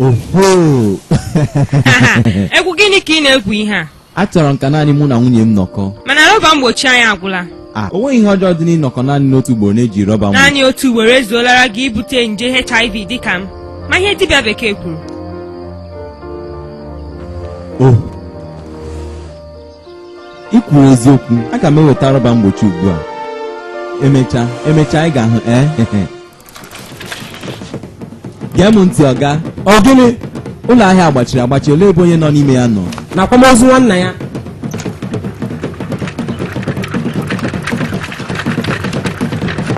oho egwu gịnị ka ị na-egwu ihe a achọrọ m ka naanị mụ na nwunye m nọkọ mana rọba mgbochi anyị agwụla a o nweghị ihe ọjọọ dị n'ịnọkọ naanị n'otu ugboro n'ejighị rọba mgbochi naanị otu ugboro ezuolara gị ibute nje hiv dịka m ma ihe dibịa bekee kwuru oh ị kwuru eziokwu aga m eweta rọba mgbochi ugbu a emechaa emechaa ị ga-ahụ ee gee m ntị ọga ọ gịnị ụlọ ahịa a gbachiri agbachi olee ebe onye nọ n'ime ya nọ n'akwamozu nwanna ya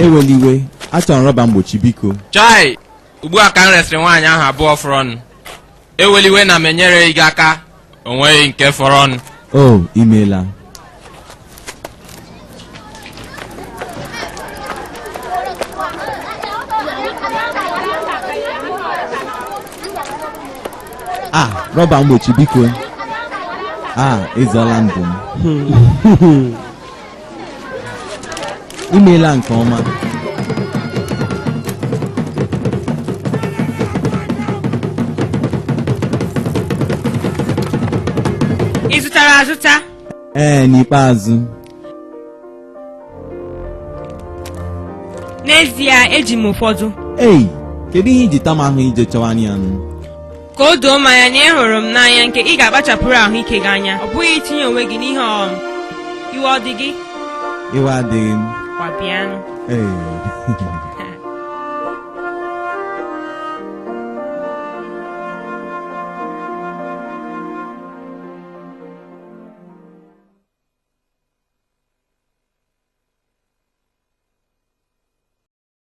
ewela iwe achọrọ m rọba mgbochi biko chai ugbu a ka m resịrị nwaanyị ahụ abụọ fọrọnụ ewela iwe na m enyereghị gị aka o nweghị nke fọrọnụ o i meela a ah, rọba mgbochi biko a ah, ị zọọla ndụ m i meela nke ọma ị zụtara azụta ee n'ikpeazụ n'ezie eji m ụfọdụ ei kedu ihe i ji ta m ahụhụ ije chọwa ya nụ ka o doo m anya na ị hụrụ m n'anya nke ị ga-akpachapụrụ ahụike gị anya ọ bụghị itinye onwe gị n'ihe ọghọm iwe ọ dị gị iwe adịghị m ngwa bịanụ ee